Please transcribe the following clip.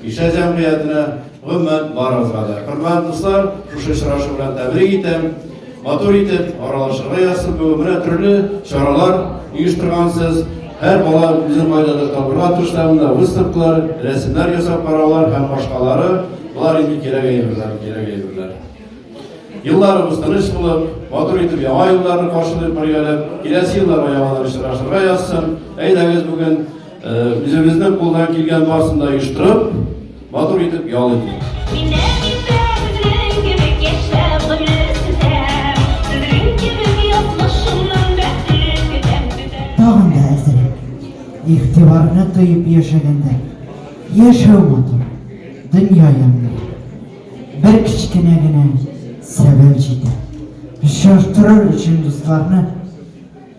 Кичә җәмгыятенә, гомумән, барыгызга да, хөрмәт дуслар, шушы очрашу белән тәбрик итәм. Матур итеп, аралашырга язсын, бүген менә төрле чаралар оештыргансыз. Һәр бала үзен кайдадыр табырга тырышта, монда выставкалар, рәсемнәр ясап караулар һәм башкалары. Болар инде кирәк әйберләр, кирәк әйберләр. Елларыбыз тыныч булып, матур итеп яңа елларны каршылыйк бергәләп, киләсе елларга яңадан очрашырга язсын. Әйдәгез бүген Үзебезнең кулдан килгән барсын да оештырып, матур итеп ял итик. Тагын да әзрәк. Игътибарны тоеп яшәгәндә, яшәү матур, дөнья ямьле. Бер кечкенә генә сәбәп җитә. Очраштырыр өчен дусларны